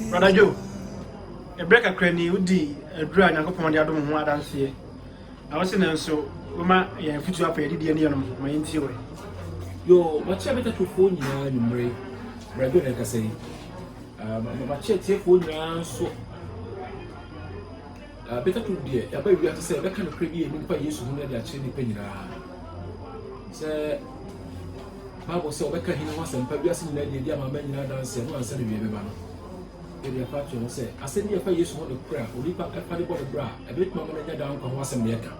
Brother Joe, ɛberɛ kakra ni wodi aduru a Nyankopɔn de adom ho adanseɛ na wose no nso woma yɛn afutuo apɛ yɛde deɛ ne yɛnom ho ma yɛntie wɔ yo makyɛ me tatofoɔ nyinaa nwummere Brother Joe na ɛkasa yi makyɛ tiefoɔ nyinaa nso Na Peter tu deɛ, yɛaba wiase sɛ yɛbɛka nokorɛ bi a ɛnim pa Yesu ho no de akyerɛ nnipa nyinaa. Sɛ Bible sɛ wɔbɛka hene ho asɛmpa wiase nyinaa deɛ di ama ama nyinaa adanseɛ no ansa na wie bɛba no. Yɛde ɛfa akyerɛ ho sɛ asɛm bi a ɛfa Yesu ho nokorɛ a onipa ɛfa de bɔ ne bra a ɛbɛtumi ama no anya daa nkwa ho asɛm na yɛka.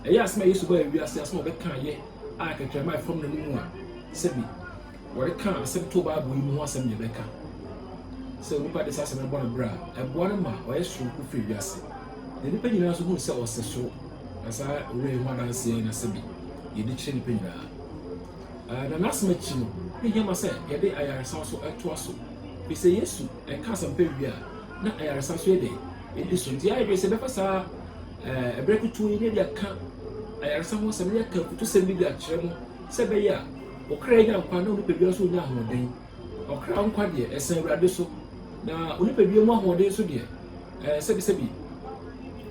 Ɛyɛ asɛm a Yesu baa wiase asɛm a ɔbɛka yɛ a kɛtrɛma ɛfam n'anom a sɛbi Wɔde ka asɛm to Bible yi mu ho asɛm nea ɛbɛka sɛ onipa de saa asɛm no bɔ ne bra a, ɛboa no ma ɔyɛ soronko firi wiase, na nnipa nyinaa nso hu sɛ ɔsɛ soro. Na saa owura yi ho adanseɛ na sɛbi yɛde kyerɛ nnipa nyinaa. Uh, na n'asɛm akyi no, ne hia ma sɛ yɛde ayaresa nso toa so, firi sɛ Yesu ɛka asɛmpa wie a, na ayaresa nso yɛ dɛn? Ɛdi so. Nti ayɛ dwene sɛ bɛfa saa uh, ɛberɛ kutuu yi na ɛde aka ayaresa ho asɛm, na yɛaka kutusɛm bi de akyerɛ mo sɛ ɛbɛyɛ a Ɔkra nya nkwa na onipadua nso nya ahoɔden. Ɔkra nkwa deɛ, ɛsɛ Awurade so, na onipadua mu ahoɔden nso deɛ, ɛɛ sɛbisɛbi.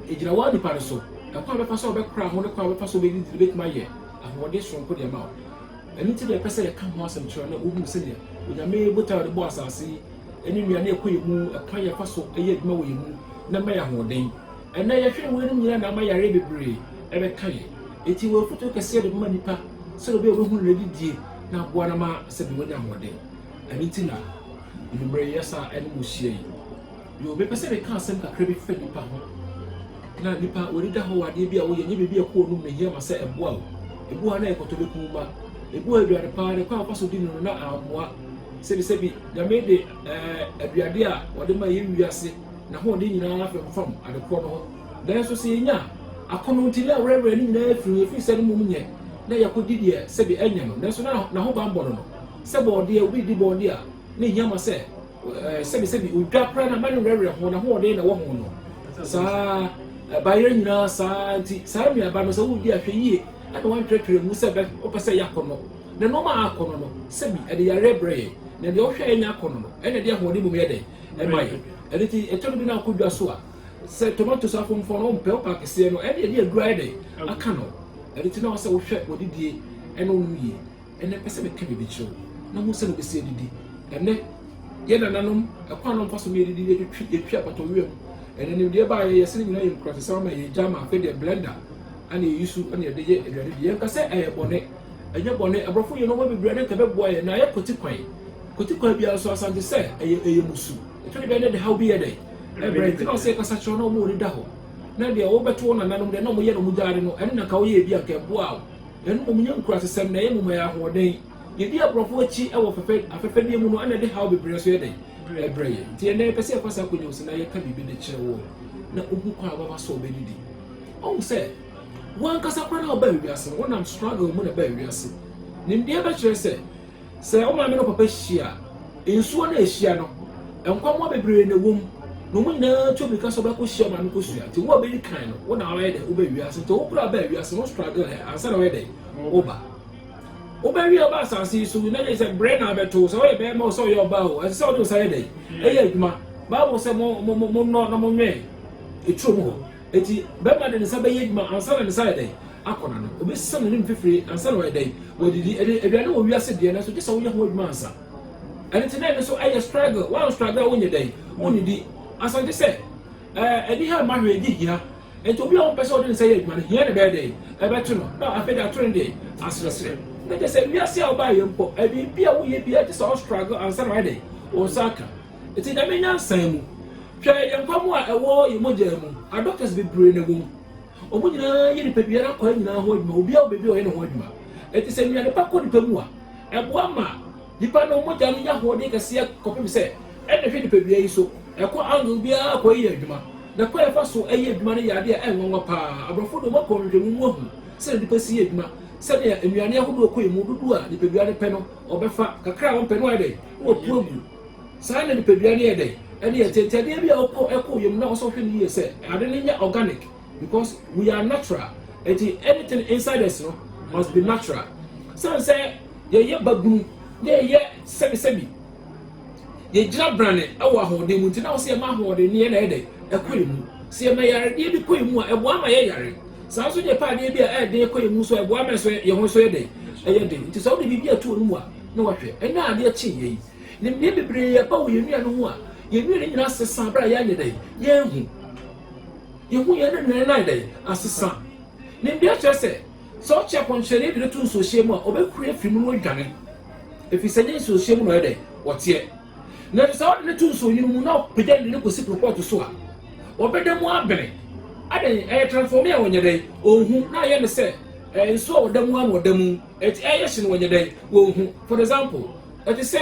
Egyina wo ara nipa no so. Ɛkwan a bɛfa so a wobɛkora ho ne kwan a wobɛfa so wobɛdidi no bɛtumi ayɛ ahoɔden soronko de ama wo. Ɛno nti na yɛpɛ sɛ yɛka ho asɛm kyerɛ na wohunu sɛdeɛ Onyame botae a ɔde bɔɔ asase yi ne nnuane a ɛkɔ yɛn mu, ɛkwan yɛfa so yɛ adwuma wɔ yɛn mu na ɛma yɛn ahoɔden. Ɛnnɛ, yɛhwɛ a weinom nyinaa na ama yareɛ bebree ɛbɛka yɛn. Enti wɔ afotuo kɛseɛ de bɛma nipa sɛdeɛ ɔbɛyɛ ɔbɛhunu na ɔde die na aboa no ma sɛdeɛ wanya ahoɔden. Ɛno nti na anwummerɛ yi asa ɛne mo hyia yi. Yo, mepɛ sɛ meka asɛm kakra bi fa nipa ho. Na nipa wɔde da hɔ wɔ adeɛ bi a woyɛ, nye biribi a ɛkɔ w'anom na ɛhia ma sɛ ɛboa wo. Ebi wɔ ha na ɛyɛ kɔtɔbɛkum ma. Ebi wɔ ha aduane paa de kwan a wofa so di no no na ammoa. Sɛbisɛbi, Nyame de ɛɛ aduade a ɔde ma yɛn wiase. n'ahoɔden nyinaa femfam ade korɔ no ho, nanso sɛ yɛnya a, akɔnnɔ nti na ɛwerɛwerɛ ne nyinaa firi no, ɛfiri sɛ ne mmom nyɛ na yɛkɔdi deɛ sɛdeɛ ɛnyɛ no, nanso na n'ahobammɔ no no sɛ bɔɔdeɛ, obi redi bɔɔdeɛ a ne hia ma sɛ sɛbi sɛbi odwa koraa na ama ne werɛwerɛ ho, n'ahoɔden na ɛwɔ ho no saa. Bayerɛ nyinaa saa nti saa nnuaba no sɛ wodi ahwɛ yie ɛna wantwerɛtwerɛ mu sɛ wopɛ sɛ ɛyɛ akɔnnɔ na nneɛma a akɔnnɔ no sɛbi ɛde yareɛ brɛ yɛn na deɛ ɔhwɛ a ɛnyɛ akɔnnɔ no ɛna ɛde ahoɔden mmom yɛ dɛn ma yɛn. Ɛno nti ɛtɔ da bi na wokɔ dwa so a, sɛ tomatoes afomfɔn no wompɛ, wopɛ akɛseɛ no, ɛne ɛde aduru ayɛ dɛn aka no. Ɛno nti na ɛwɔ sɛ wohwɛ w'adidie ɛne wonom yie. Ɛnɛ pɛ sɛ meka biribi kyerɛ wo na hu sɛ na wobɛsi adidi. Ɛnɛ yɛn nananom ɛkwan na wɔmfa so ma yɛdidi yɛtwitwi yɛtwi apata owia mu. Ɛnɛ nimdeɛ baeɛ yɛsɛ ne nyinaa yɛ nkuratesɛm ama yɛn gya ma afei deɛ blender ɛna yɛyi so ɛna yɛde yɛ aduane di. Yɛnka sɛ ɛyɛ bɔne. Ɛnyɛ bɔne, aborɔfo yɛ nnoɔma bebree a na nka ɛbɛboa yɛn, na ayɛ kwati kwan, kwati kwan biara nso asan te sɛ ɛyɛ ɛyɛ mmusu, ɛtɔ da bi a na ɛde haw bi yɛ dɛ, ɛbrɛ yɛn, nti na ɔsɛ yɛkasa kyerɛ wɔn na wɔn ani da hɔ, na deɛ wɔbɛto wɔn nananom deɛ na wɔyɛ na wɔgyaade no, ɛne na nka wɔyɛɛ bi a nka ɛboaa wɔn, ɛno mmom nyɛ nkurasesɛm, na ɛyɛ mmom ɛyɛ ahoɔden, yɛdi aborɔfo akyi wɔ fɛfɛ afɛfɛdeɛ mu no ɛna ɛde haw bebree nso yɛ dɛ, ɛbrɛ yɛn, nti ɛnnɛ yɛpɛ sɛ yɛfa saa akonnwa yi so na yɛka biribi de kyerɛ wɔn na wɔhu kwan a wɔbɛfa so a wɔbɛdidi, wɔhu sɛ. W'ankasa koraa na wobaa wiase no, wonam struggle mu na ɛbaa wiase. Nimdeɛ bɛkyerɛ sɛ, sɛ wo maame ne wo papa hyia a, nsuo no a ɛhyia no, nkwammoa bebree na ɛwɔ mu, na wɔn nyinaa tu mmirika sɛ wɔbɛkɔhyia wo maame kɔsua. Nti wo a wobɛdi kan no, wo na wobɛyɛ dɛn? Wobaa wiase. Nti wo koraa baa wiase no, wo struggle ɛ ansa na woyɛ dɛn? Woba. Wobɛwie a woba asase yi so, na sɛ brɛ na abɛto wo, sɛ woyɛ bɛrima o, sɛ woyɛ ɔbaa o, ɛsɛ sɛ wode wo nsa yɛ dɛn? Ɛyɛ adwuma. Bible sɛ mo, mo, mo, monnɔ na monwɛn eturo mu hɔ. Enti bɛrima de ne nsa bɛyɛ adwuma ansa na ne nsa ayɛ dɛn? Akɔ n'ano. Obesesa n'anim fafiri ansa na wayɛ dɛn? Wadidi. Ɛde, aduane wɔ wiase deɛ, nanso gye sɛ woyɛ ho adwuma ansa. Ɛno nti na ɛno nso ɛyɛ struggle. Woan struggle a wonyɛ dɛn? Wonnidi. Ansa gye sɛ ɛɛ ɛdi ha mma hwɛ, ɛdi hia. Enti obi a ɔmpɛ sɛ ɔde ne nsa yɛ adwuma no, hia na ɛbɛyɛ dɛn? Ɛbɛto no. Na afei de ato no deɛ? Asrɛsrɛ. Na kyerɛ sɛ wiase a wobaeɛ mpo, ɛɛ biribi a woyɛ biara gye sɛ wo struggle ansa na wayɛ dɛn? Wo nsa aka. Enti Nyame nyansa mu, hwɛ yɛn nkwa mu a ɛwɔ yɛn mogyaa mu, adɔktɛs bebree na ɛwɔ mu. Wɔn nyinaa yɛ nipadua no akwaa nyinaa ho adwuma, obiara wɔ baabi a ɔyɛ ne ho adwuma. Enti sɛ nnuane pa kɔ nipa mu a, ɛboa ma nipa no mogya no nya ahoɔden kɛseɛ kɔpem sɛ ɛna ɛhwɛ nipadua yi so, ɛkɔ angle biara kɔ yɛ adwuma. Na kwan a ɛfa so yɛ adwuma no yɛ ade a ɛnwanwa pa ara. Aborɔfo de wɔn akɔ nhwehwɛmu mu ahu sɛdeɛ nipa si yɛ adwuma, sɛdeɛ nnuane ahodoɔ kɔ yɛn mu, dodoɔ a nipadua no pɛ no ɔbɛfa, kakra a ɔmpɛ no wayɛ dɛn? na wapue agu. Saa na nipadua no yɛ dɛ. Ɛne yɛ te. Nti adeɛ bi a wokɔ ɛkɔ yɛ mu na ɔsɔ hwɛ no yie sɛ ade no nyɛ organic because we are natural. Nti anything inside us no must be natural. Sane sɛ yɛyɛ babunu na yɛyɛ sɛbi sɛbi, yɛgyina brane wɔ ahoɔden mu nti na ɔsɛ yɛma ahoɔden no yɛ na ɛyɛ dɛ ɛkɔ yɛ mu. Sɛ yɛma yaredeɛ bi kɔ yɛ mu a ɛboa ma yɛ yare. Saa nso deɛ pɛ adeɛ bi a ɛyɛ den kɔ yɛ mu nso a ɛboa ma yɛ ho nso yɛ dɛ ɛyɛ den. Nti sɛ wode biribi ato wo mu a, na wɔhwɛ. Ɛnnɛ a adeɛ kye yei, nimdeɛ bebree aba wɔ yɛn nnua no ho a yɛn nnua no nyinaa sesa berɛ a yɛanyɛ dɛn? Yɛanhu. Yɛn ho yɛn no nyinaa ayɛ dɛn? Asesa. Nimdeɛ kyerɛ sɛ, sɛ ɔkye akɔnkyerɛdeɛ de no to nsuohyeɛ mu a, ɔbɛhuri afiri mu na wadwane, ɛfiri sɛ ɛnyɛ nsuohyeɛ mu na ɔyɛ dɛn? Ɔteɛ. Nanso sɛ wode no to nsuonwunu mu na ɔpagya no de no kɔsi koropɔɔto so a, ɔbɛda mu abene. Adɛn? Ɛyɛ transformee a ɔnyɛ dɛn? Ɔnhu, na ayɛ no sɛ nsuo a ɔda mu ara na ɔda mu. Enti ɛyɛ hye no wɔnyɛ dɛn? Wɔnhu. For example, ɛte sɛ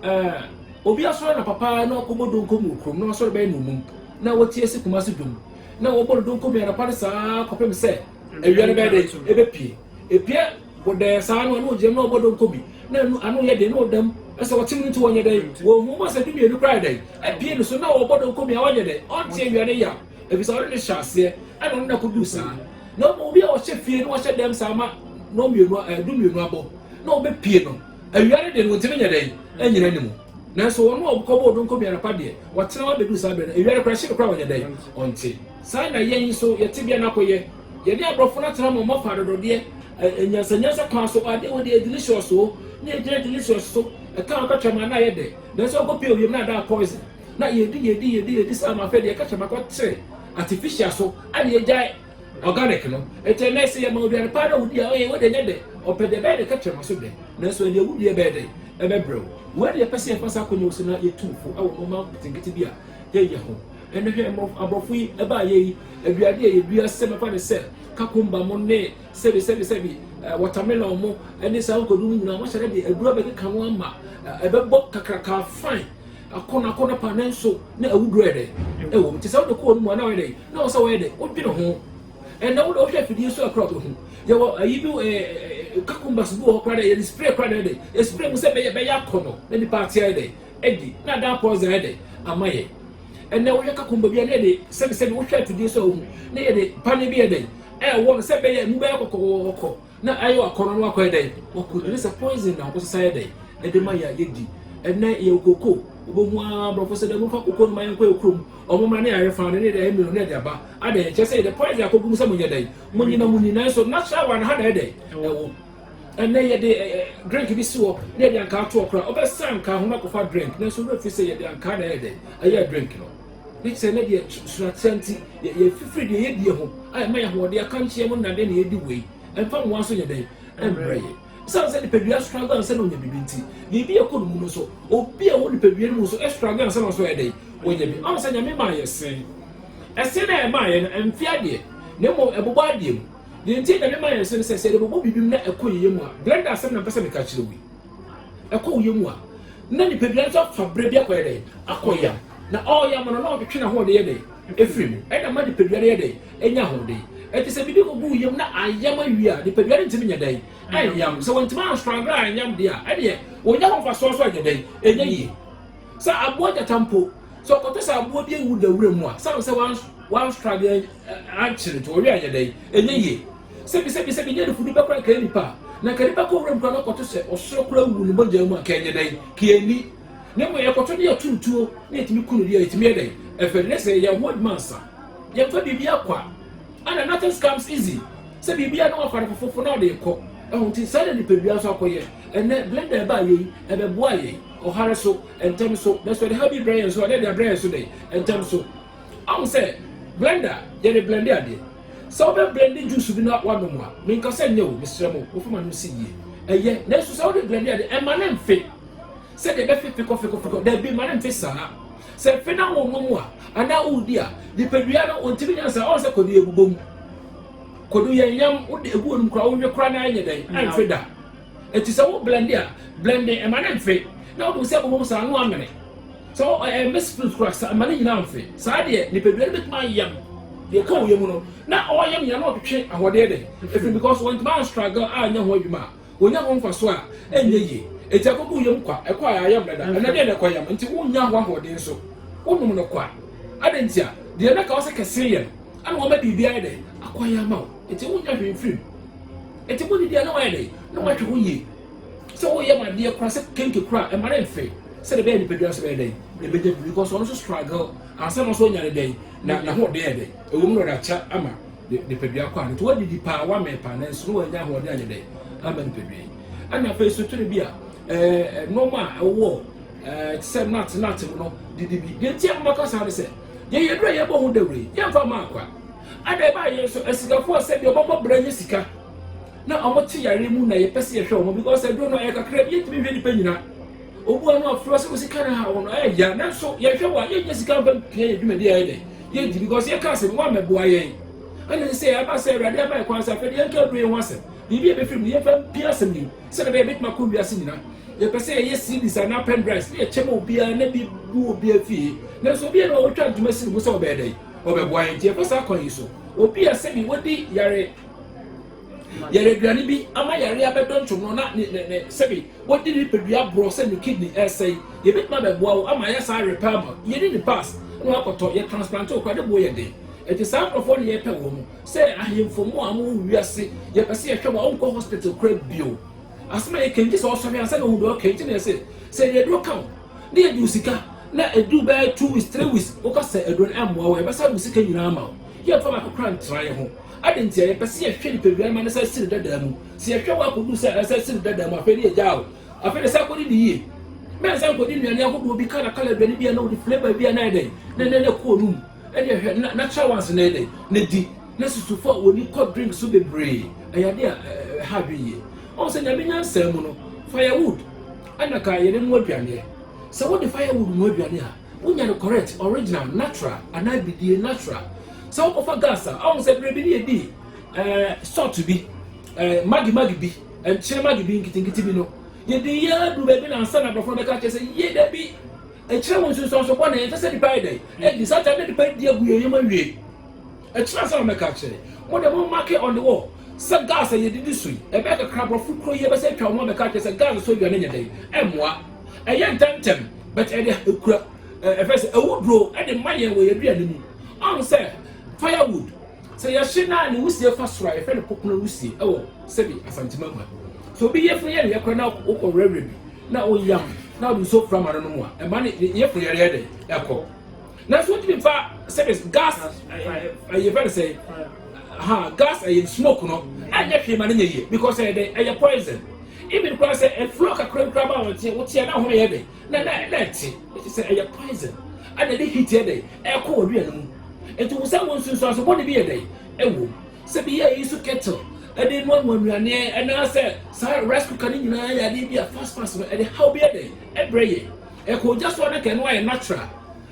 eh, obi asɔre anɔpa paa na wakɔbɔ donko mu wɔ kurom na wasɔre bɛyɛ nnommum na watie se Kumasi dwom na wɔbɔ no donko mu anɔpa no saa ara kɔpem sɛ awia no bɛyɛ dɛn? Ɛbɛpue. Ɛpue bɔdɛɛ saa no a na ɔgyinam na ɔbɔ donko bi na ɛno ano yɛ den na ɔda mu sɛ ɔte mu no nti wɔnyɛ dɛn? Wɔnhu. Wɔbɔ sɛ dumienu koraa yɛ dɛn? Apue no so na ɔbɔ donko bi a ɔnyɛ dɛn? Ɔnte awia no yaw. Efisɛ ɔne no hyɛɛ aseɛ, ɛna ɔne no akoduu saa. Na mmom obi a ɔhyɛ fie na ɔhyɛ dɛm saa ma nnɔn mmienu, ɛɛ du mmienu abɔ, na ɔbɛpue no awia no deɛ no ɔntumi nyɛ dɛn nnyina ne mu. Nanso wɔn a ɔkɔbɔɔ donko bi anɔpa deɛ, wɔtena hɔ abɛduru saa berɛ no, awia no koraa hye no koraa ɔnyɛ dɛn ɔnte. Saa na yɛn nso yɛn tebea no akɔyɛ. Yɛne aborɔfo no atena ma wɔafa adɔdɔdeɛ, ɛɛ nyansanyansa kwan so, ɔɔ adeɛ wei deɛ ɛyɛ delicious oo, na yɛgyina delicious so, ɛka a ɔka tram a na ayɛ dɛ, nanso ɔkɔpue ewiem na adan poison. Na yɛdi yɛdi yɛdi yɛdi saa ma afei deɛ ɛka kyɛ makɔ te artificial so ɛna yɛgyae organic no ɛti ɛnɛ ɛsɛ yɛ ma aduane paa na wodi a ɔyɛ wode nyɛ dɛ ɔpɛ deɛ bɛyɛ de ka kyerɛ ma so dɛ nanso ɛnea wodi ɛbɛyɛ dɛ ɛbɛbrɛw wei deɛ ɛpɛ sɛ yɛfa saa akɔnya wo sɛ na yɛtu fo ɛwɔ nneɛma nketenkete bi a yɛyɛ ho ɛnɛ hwɛ aborɔfo yi ɛbaa yɛ yi aduade a yɛdua sɛ mɛfa ne sɛ kakumba mo ne sɛbi sɛbi sɛbi wɔtamelɔn mo ne saa nkodu no nyinaa wɔhyɛ dɛ de aduro bɛkeka no ama ɛbɛbɔ kakraka fine akɔnɔ akɔnɔ paa nanso na awuduro yɛ dɛ ɛwɔ mu te sɛ wode kɔɔ no mu a na wɔyɛ dɛ na wɔn sɛ wɔyɛ dɛ wodwene ho ɛnna wode wohwɛ afidie so akora wobɛhu yɛwɔ ayi bi ɛɛ kakumbas bi wɔ hɔ koraa dɛ yɛde spray koraa dɛ dɛ espray mu sɛ bɛyɛ bɛyɛ akɔnɔ na nipa ate ayɛ dɛ ɛdi na adan pɔɔza ayɛ dɛ ama yɛ ɛnna wohwɛ kakumba bi a na yɛde sɛbisɛbi wohwɛ afidie so a wohu na yɛde pane bi yɛ dɛ ɛwɔ no sɛ bɛyɛ mu bɛyɛ kɔkɔkɔkɔ Na ɛyɛ wakɔnɔ na wakɔyɛ dɛn waku ɛne sɛ poison na wosesa yɛ dɛn ɛde ma yɛ yɛdi ɛnɛ yɛ koko wobɛhu aa brɔfo sɛ dɛ momfa koko no ma yɛnkɔ yɛ kurom ɔmo mmra ne yɛayɛ faa ne ne yɛde ayɛ mmienu ne yɛde aba adɛn ɛkyɛ sɛ yɛde poison akɔgu mu sɛ monyɛ dɛn monyi na moni nanso natural one ha na ɛyɛ dɛn ɛwɔ ɛnɛ yɛde drink bi si hɔ ne yɛde ankaa toɔ koraa wobɛsa ankaa ho na akɔfa drink nanso wura firi sɛ yɛde ankaa na ɛyɛ dɛn ɛyɛ drink no ne te sɛ ne deɛ t soro atea nti, yɛ yɛfifiri deɛ yɛdie ho a ɛma yɛ ahoɔden akankyeɛ mu nnade na yɛdi wei ɛmfa nwowa nso nyɛ dɛn ɛmmerɛ yɛ. Ɛsiane sɛ nipadua struggle ansa na ɔnya biribi nti, biribi a ɛkɔ ne mu no nso, obi a ɔwɔ nipadua no mu nso struggle ansa na ɔso ayɛ dɛn ɔnya bi. Ɔhu sɛ Nyame maa yɛ se, ɛse no a ɛmaa yɛ no ɛmfe adeɛ na mmom ɛbobɔ adeɛ mu. Deɛ nti a Nyame maa yɛ se no sɛ, sɛ yɛde bobɔ biribi mu na ɛkɔ yɛ yɛ mu a, Glenda asɛm na mpɛ sɛ meka kyerɛ wo yi. ɛkɔ wo yam a, na nipadua no nso afa berɛ bi akɔyɛ dɛn? Akɔyam. Na ɔreyam no, na ɔretwetwe n'ahoɔden yɛ dɛn? Ɛfiri mu. Ɛna ɛma nipadua no yɛ dɛn? Ɛnya ahoɔden. Ɛnti sɛ biribi kɔgu wo yam na ayam awie a, nipadua no ntumi nyɛ dɛn? Ɛnyam. Sɛ wɔntumi anstruggle anyam deɛ a, ɛdeɛ ɔnya ho mfasoɔ nso anyɛ dɛn? Ɛnyɛ yie. Sɛ aboa gyata mpo, sɛ ɔkɔtɔ sɛ aboa bi awu da wura mu a, sɛ sɛ wanstruggle ankyere nti, ɔwe anyɛ dɛn? Ɛnyɛ yie. Sɛ bi sɛ bi sɛ bi nyɛ ne funu bɛkora nka nipa a, na nka nipa kɔ wuram kora na ɔkɔto sɛ ɔsoro kora wuwu ne mogya mu a nka ɛnyɛ dɛn ka yɛ nni. Na mmom yɛkɔto ne yɛto ntuo na yɛtumi ku no deɛ ɛtumi yɛ dɛn ɛfɛ ne sɛ yɛn ho adwuma nsa. Yɛmfa biribiara kwa ana nothings comes easy sɛ biribiara na wafa no fofofo na ɔde rekɔ ɛho nti saa na nipadua nso akɔyɛ ɛnɛ blender ɛbaa yei ɛbɛboa yɛn ɔhare so ɛntɛm so nanso ɛde ha bi brɛ yɛn so a na ɛde abrɛ yɛn so dɛn ɛntɛm so. Ahu sɛ blender yɛde blende adeɛ. Sɛ wobɛ blende juice bi na wanom a, menka sɛ nyɛ o, mesrɛ mo, mofa ma no nsi yie. Ɛyɛ, nanso sɛ wode blende adeɛ, ɛmma no mfe sɛdeɛ ɛbɛfe fekɔfekɔfekɔ, daabi, mma no mfe saa. Sɛ ɛfe na wonom a, anaa woredi a, nipadua no, ɔntumi nya saa, ɔhu sɛ kwadu yɛ bobɔ mu. Kwadu yɛ nyam, wode egu onom koraa, wowe koraa na ɛnyɛ dɛn, ɛmfe da. Eti sɛ wo blende a, blende, ɛmma no mfe, na wode wo sɛ bobɔ mu saa, ano amene. Sɛ wo ɛ ɛmmɛ spirit koraa sa mma ne nyinaa mfe. Saa deɛ nipadua no bɛtumi ayam deɛ ɛka wo yam no na ɔreyam nyinaa na ɔtwetwe ahoɔdeɛ dɛ ɛfiri because wantumi anstruggle anyɛ ho adwuma a ɔnya ho mfasoɔ a ɛnyɛ yie. Enti ɛkɔgu wo yam kwa, ɛkɔ a ɛayam dada, ɛnnɛ deɛ na ɛkɔyam nti wonnya ho ahoɔden nso wonom no kwa. Adɛn nti a? Deɛ na ɛka wo sɛ kɛse yɛ no ɛna wama biribi ayɛ dɛ akɔyɛ ama wo nti wonnya hwee mfiri mu. Enti bɔne biara na wayɛ dɛ na watwe ho yie. Sɛ woyɛ ma adeɛ koraa sɛ kenke koraa ɛma no mfe sɛdeɛ ɛbɛyɛ nipadua nso bɛyɛ dɛn na ɛbɛnya biribi because ɔno nso struggle ansa na nso ɔnya ne dɛn na n'ahoɔden yɛ dɛn ɛwɔ mu na ɔde akyɛ ama nipadua kɔ ano nti wadidi paa wamɛn paa nanso na wanya ahoɔden anyɛ dɛn ama nipadua yi ɛna afei so tiri bi a ɛɛ nneɛma a ɛwɔ ɛɛ te sɛ nut nut no didi bi deɛ nti a maka saa ne sɛ yɛyɛ duro a yɛbɔ ho dawuro yi yɛmfa ma akwa ada ɛbaa yɛn so asikafo a sɛ deɛ ɔbɛbɔ bra nyɛ sika na ɔmo te yare mu na yɛpɛ sɛ yɛhwɛ ɔmo because aduro no ɛyɛ kakra bi yɛntumi nhwɛ nipa nyina obu ano afura sɛ osika no ha wɔn ɛyɛ ya nanso yɛhwɛ wɔ a yɛnyɛ sika mfa pia yɛ dwumadi ayɛ dɛ yɛgye because yɛka asɛm wɔn amɛboa yɛn ɛna ne sɛ ɛba sɛ awurade ama ɛkwan sɛ afɛde yɛnka aduro yɛn ho asɛm biribi a ɛbɛfiri mu yɛmfa mpia asɛm no mu sɛdeɛ bɛyɛ bɛtumi akɔ wiase nyina yɛpɛ sɛ yɛyɛ cds anaa pendrives ne yɛkyɛ ma obiara na bi bu obiara fie nanso obiara na ɔwɔtwa adwuma si ne ho sɛ ɔbɛyɛ dɛn ɔbɛboa yɛn nti yɛfa saa kwan yi so obi a sɛbi wadi yare yɛyɛ aduane bi ama yare abɛdɔ ntwom no na ne ne ne sɛbi wɔde ne nipadua borɔ sɛ ne kidney ɛresɛe yɛbɛtumi abɛboa wo ama ayɛ saa repair ma yɛne ne pass na wakɔtɔ yɛ transplant okura ne boɔ yɛ den ɛti saa nkurɔfoɔ ne yɛpɛ wɔ mu sɛ ahemfo mu a wɔwɔ wiase yɛpɛ sɛ yɛhwɛ wɔ wonkɔ hospital kura bio asɛm a yɛkɛn gye sɛ ɔsɔhwɛ ansa na ɔhu deɛ ɔkɛn nti na yɛsɛ sɛ yɛde aduro ka wo ne yɛde wo sika na ɛduru bɛyɛ two weeks three weeks woka sɛ aduro no ɛmmoa wo yɛbɛsa wo sika nyinaa ma wo yɛmfa baako kora ntra yɛ ho Adɛn ntia? Yɛpɛ sɛ yɛhwɛ nipadua no ma no san si no dada mu. Sɛ yɛhwɛ hɔ akodu sɛ ɛsan si no dada mu, afei ne yɛgyaa o. Afei na san kɔdi no yie. Mɛn san kɔdi nnuane ahodoɔ bi, kala kala aduane bi a na wɔde flavour bi a na ayɛ dɛn, na na na kɔɔ no mu. Ɛdeɛ hwɛ, na natural ones na ɛyɛ dɛn, na di. Na susufo a wɔn ani kɔ drink so bebree, ɛyɛ adeɛ a ɛha adwene yie. Ɔhu sɛ Nyame nyansa mu no, firewood ɛna ka yɛde noa aduaneɛ. Sɛ wode firewood noa aduane a, Wonya no correct, original, natural anaa bidie, natural. Sɛ wokɔfa gas a, ahu sɛ berɛ bi ne yɛdi eh, salt bi, eh, magi magi bi, nkyene magi bi nkitinkiti bi no. Yɛdi yɛ adu baabi na ansa na aborɔfo no bɛka kyerɛ sɛ yie da bi. Ɛkyerɛ wo nsunsuanso bɔne, ɛnkyɛ sɛ nipa yɛ dɛn, ɛdi saa kyɛ na nipa di agu yɛn yam awie. Akyiri ansa na mɛka akyerɛ. Mo deɛ mo marke on the wall sɛ gas a yɛdidi so yi, ɛbɛyɛ kakra aborɔfo kuro yi ɛbɛsɛ atwa wɔn abɛka akyerɛ sɛ gas so aduane nyɛ dɛn, ɛmmoa. Ɛyɛ ntɛmntɛm but ɛde ɛkura ɛ ɛfrɛ sɛ awuduro ɛde ma yɛn wɔ yɛn aduane mu. Ɔho sɛ fire wood sɛ yɛhye no a ne wusie fa soro a yɛfrɛ no popono wusie ɛwɔ sɛbi Asante Magua. Sɛ obi yefunu yɛ ne yɛkorɛ na wokɔ werɛwerɛ bi na woyam na wode nsuo fra ma no nom a ɛma ne yefunu yɛreɛ dɛn ɛkɔ. nanso wotumi nfa sɛbis gas ɛyɛ fɛn sɛ ha gas ɛyɛ smoke no ɛnyɛ hwee ma ne nyɛ yie because ɛyɛ dɛ ɛyɛ poison even kura sɛ ɛfuro kakra kura ba wɔn tiɛ wotiɛ na ahono yɛ dɛ na na na ɛte ɛti sɛ ɛyɛ poison ɛna ɛde heat yɛ dɛ ɛkɔ wɔ dua no mu nti wosɛ wɔn nsunsuan so bɔde bi yɛ dɛ ɛwɔ sɛ bi yɛ yi so kettle ɛde mu amu nnuane ɛna sɛ saa rice cooker ne nyinaa yɛ adeɛ bi a fast fast no ɛde haw bi yɛ dɛ ɛbrɛ yɛ. Ɛkɔ ogya so a na nka ɛno ayɛ natural.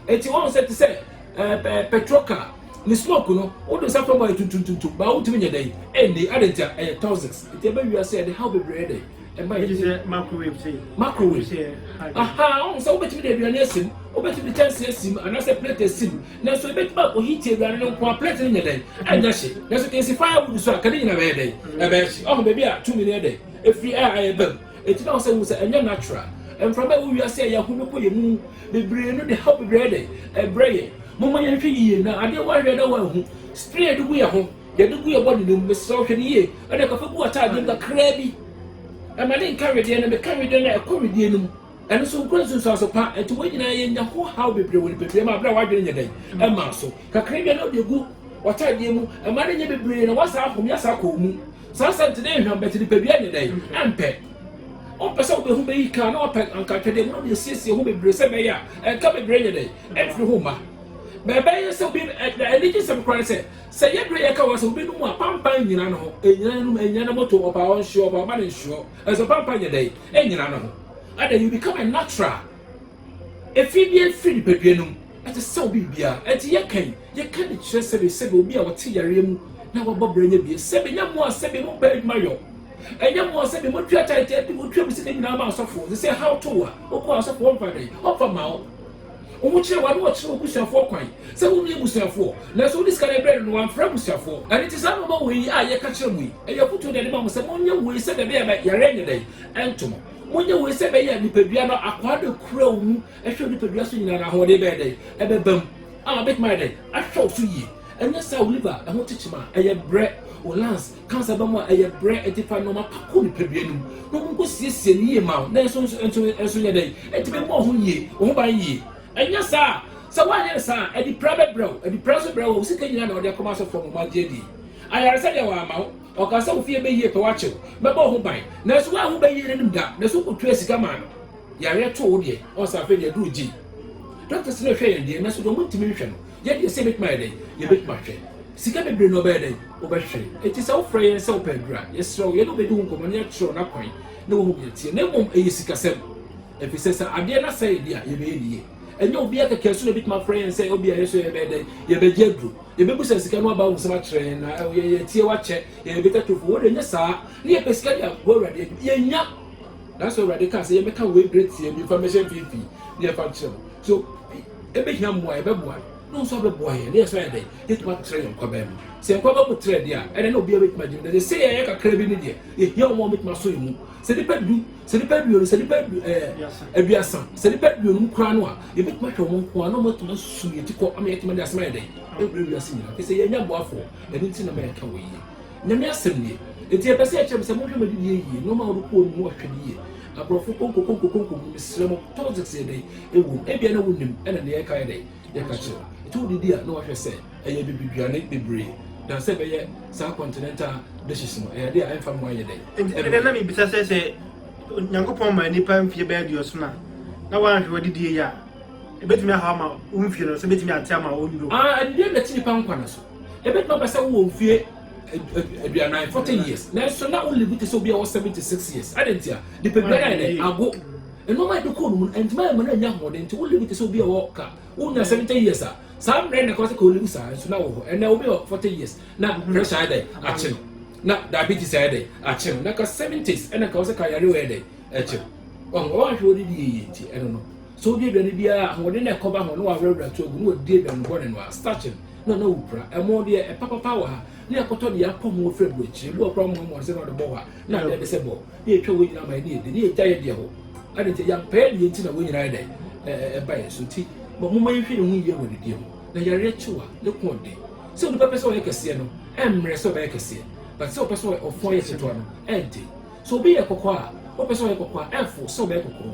Enti wahu sɛ te sɛ ɛɛ eh, petrol car ne smoke no wode nsa fam ayɛ tuntuntuntum baa wotumi nyɛ dɛn ɛnni ade nti a ɛyɛ toxics nti ɛbɛ wia sɛ ɛde haw bebree dɛn ɛma yɛ sɛ microwave sɛ microwave sɛ aha ɔmo sɛ wobɛtumi de aduane asim wobɛtumi de kyɛnse asim anaasɛ plate asim nanso ebɛtumi akɔ heat aduane no nko a plate no nyɛ dɛn ɛnyɛ hye nanso kɛnsi firewood so a kɛde nyina bɛyɛ dɛn ɛbɛyɛ hye ɔho baabi a tumi no yɛ dɛn ɛfiri a ɛyɛ bɛm Enti na ɔsɛ hu sɛ ɛnyɛ natural. Mframa a ɛwɔ wiase a yɛahu no kɔ yɛn mu bebree no de haw bebree de ɛbrɛ yɛn. Momma yɛnhwɛ yiye na adeɛ a woanhwɛ na woanhu, spray a yɛde gu yɛn ho, yɛde gu yɛn body no mu, mesrɛ wo hwɛ no yie. Ɛnna kɔfa gu w'ataadeɛ mu kakraa bi. Ɛma no nka wedeɛ na meka wedeɛ no a ɛkɔ wedeɛ no mu. Ɛno nso nkura nsunsuanso pa. Enti wɔn nyinaa yɛnya ho haw bebree wɔ nipadua mu a berɛ a w'adwene nyɛ dɛn mmaa so. Kakraa bi a na wode gu w'ataadeɛ mu, ɛma no nyɛ bebree na woasan ahome asan akɔ wo mu. Saa asɛm te dɛ hwam, but nipadua nye dɛn? Ampɛ. Ɔmpɛ sɛ wode ho bɛyi ka, na ɔpɛ anka atwɛdeɛ mu na ɔde asiesie ho bebree sɛ ɛbɛyɛ a ɛnka bebree nyɛ dɛn? Ɛmfiri ho mma. Ma ɛbɛyɛ sɛ obi na anigye sɛm koraa ne sɛ, sɛ ɛyɛ berɛ yɛka wɔ sɛ obi nom a, pampan nnyina ne ho. Ɛnnyina ne nom, ɛnnyina ne moto, ɔba a ɔnhyeɔ, ɔba a ɔba no nhyeɔ. Ɛso pampan nyɛ dɛn? Ɛnnyina ne ho. Adɛn, you become a natural. Efi bi afiri nipadua no mu, ɛte sɛ obi bibia. Enti yɛka yi, yɛka de kyerɛ sɛbe, sɛbe obi a ɔte yareɛ mu na wabɔ bra nya bie, sɛbe, nyɛ mo a sɛbe mo pɛ adwuma yɔ, ɛnyɛ mo a sɛbe mo tua taete ɛde mo tua mo sika nyinaa ma asɔfoɔ, te sɛ ɛhaw to wo a, wokɔ asɔfoɔ wɔmfa dɛn? Wɔmfa mma wo. Wɔn kyerɛ wɔn ne wɔkyerɛ wɔn busuafoɔ kwan sɛ wɔn yɛ busuafoɔ, nanso wode sika no ɛbrɛ no no wamfrɛ abusuafoɔ. Ɛno nti saa nnoɔma wei a yɛka kyerɛ mo yi, ɛyɛ afotuo na yɛde ma mo sɛ monyɛ wei sɛdeɛ ɛbɛyɛ a yareɛ nyɛ dɛn? Ɛnto mo. Monyɛ wei sɛ ɛbɛyɛ a nipadua no akwaa bɛkura wo mu hwɛ nipadua so nyinaa na ahoɔden bɛyɛ dɛn? Ɛbɛba mu a ɔbɛtumi ayɛ dɛn? Ahwɛ wo so yie. Ɛnyɛ saa a wo liver ɛho kyekyem a ɛyɛ brɛ, wo lungs cancer ba mu a ɛyɛ brɛ, enti fa nnoɔma pa kɔ nipadua no mu na ɔmo nkɔ siesie no yie ma wo na nso nso nso nso nyɛ dɛn? Ɛtumi mmɔ wo ho yie, wo ho ban yie. Ɛnyɛ saa a sɛ woanyɛ no saa a adipira bɛbrɛ wo, adipira nso brɛ wo a wo sika nyinaa na wode akɔma asɔfoɔ ma ɔmo agye adie. Ayaresa deɛ wɔamma wo. Ɔkaa sɛ, Wo fie bɛyie pɛ, woakyew, mɛbɔ wo ho ban. Nanso woanhu bɛyie no anim da, na so wotuaa sika maa no? Yareɛ too wo deɛ, ɔn sɛ afei deɛ aduru gye. Doctors no hwɛ yɛn deɛ, nanso deɛ wɔntumi nhwɛ no, yɛn deɛ sɛ yɛbɛtumi ayɛ dɛn? Yɛbɛtumi ahwɛ. Sika bebree no ɔbɛyɛ dɛn? Wobɛhwere. Enti sɛ wofrɛ yɛn sɛ wopɛ aduru a, yɛsrɛ wo, yɛne wo bɛdi ho nkɔmmɔ na yɛakyerɛ wo n'akwan na woahu deɛ ɛteɛ. Na mmom ɛyɛ sikasɛm. Ɛfisɛ sɛ adeɛ no asɛe yɛn deɛ a, yɛbɛyɛ ne yie. Ɛnyɛ obiara kɛkɛ so na ɛbɛtumi afrɛ yɛn sɛ ebia yɛn nso yɛbɛyɛ dɛn? Yɛbɛgye aduru. Yɛbɛbisa sika no aba ho nsɛm akyerɛ yɛn, na ɛwɔ yɛn yɛ tiawa akyɛ yɛn, yɛbɛtwa tofo. Wɔn deɛ, nyɛ saa, na yɛpɛ sika de aboa Awurade adwuma. Yɛnnya. Nanso Awurade kaa sɛ yɛmmɛka wei berɛ tiaa bi mfa mmɛhyɛ mfimfini na yɛmfa nkyerɛ mo. So ɛbɛhia mmoa a, yɛbɛboa no, na ɔno nso abɛboa yɛn, na yɛn nso ayɛ dɛn? Yɛatumi atrɛ yɛn nkwaban mu. Sɛ yɛn nkwaban mu trɛ deɛ a, ɛnneɛ na obiara bɛtumi agye no. Nanso sɛ yɛyɛ kakra bi no deɛ, yɛhia wɔn a wɔbɛtumi aso yɛn mu. sɛ nipa du sɛ nipa aduonu sɛ nipa adu ɛɛ aduasa sɛ nipa aduonum koraa no a yɛbɛtumi ahwɛ wɔn nko ara na wɔn atumi asu yɛn ti kɔ ama yɛtumi de asɛm ayɛ dɛ ɛwura wiase nyinaa te sɛ yɛn nya boafoɔ ɛno ti na ma yɛka wɔ yie nyame asɛm nie eti ɛpɛ sɛ ɛkyerɛ mi sɛ mohwɛ mɛ didi yɛ yie nneɛma a wɔde kɔɔ no mu ahwɛ no yie aborɔfo konko konko konko mu mesrɛ mo politics yɛ dɛ ɛwɔ mu ebia na wonim ɛna nea ɛka yɛ dɛ Yɛ ka kyerɛ no. Nti wode di a na wahwɛ sɛ ɛyɛ abibiduane bebree na sɛ ɛbɛyɛ saa continental dishes no ɛyɛ adeɛ a ɛmfa mmoa yɛ dɛn. Nti ɛdɛ na mebisa sɛ sɛ Nyankopɔn ma nipa mfie bɛyɛ aduɔson a na wanhwɛ wadidie yɛ a ɛbɛtumi ahaw ama wo mfie no sɛ bɛtumi ate ama wo nnuro. Ah, ɛdeɛ na ɛte nipa nkwa no so. Ɛbɛtumi aba sɛ wowɔ mfie aduanan forty years nanso na wo live te sɛ obi a wɔ seventy six years. Adɛn ntia? Nipa biara yɛ dɛ ago. nneɛma a yɛde kɔɔ no mu no ɛntumi ayɛ ma no anya ahoɔden nti wolive te sɛ obi a ɔwɔ ka wonya seventy years a saa mmerɛ na ɛkɔ sɛ ka olive saa nso na wɔ hɔ ɛnna obi wɔ forty years na mm-hmm. pressure ayɛ dɛ akye no na diabetes ayɛ dɛ akye no na ka seventies ɛna ka wɔ sɛ ka yare wɔyɛ dɛ akye no ɔho ɔwɔ ahwɛ wɔde di yie nti ɛno no so wodi aduane biara ahoɔden na ɛkɔba ho na wɔawerɛwerɛ to agu na wɔdi aduane bɔne no a starch no na na wopira ɛmo deɛ ɛpapapa wɔ ha ne akɔtɔ deɛ apɔ ho afiri aburokyire bi wɔ kora mmoamoa sɛ na ɔde bɔ hɔ a na adeɛ de sɛ bɔ na yɛtwa wɔn nyinaa ma yɛne yɛn di na yɛgya yɛn deɛ hɔ ade nti yɛampɛɛ deɛ nti na wɔn nyinaa dɛ ɛba yɛn so nti ma moma yɛnhwɛ yɛn ho yie wɔ ne deɛ mu na yareɛ kyew a ne ko ɔden sɛ onipa pɛ sɛ ɔyɛ kɛseɛ no ɛmmerɛ sɛ ɔbɛyɛ kɛseɛ but sɛ ɔpɛ sɛ ɔfɔn yɛ ketewa no ɛnte sɛ obi yɛ kɔkɔɔ a ɔpɛ sɛ ɔyɛ kɔkɔɔ a ɛfo sɛ ɔbɛyɛ kɔkɔɔ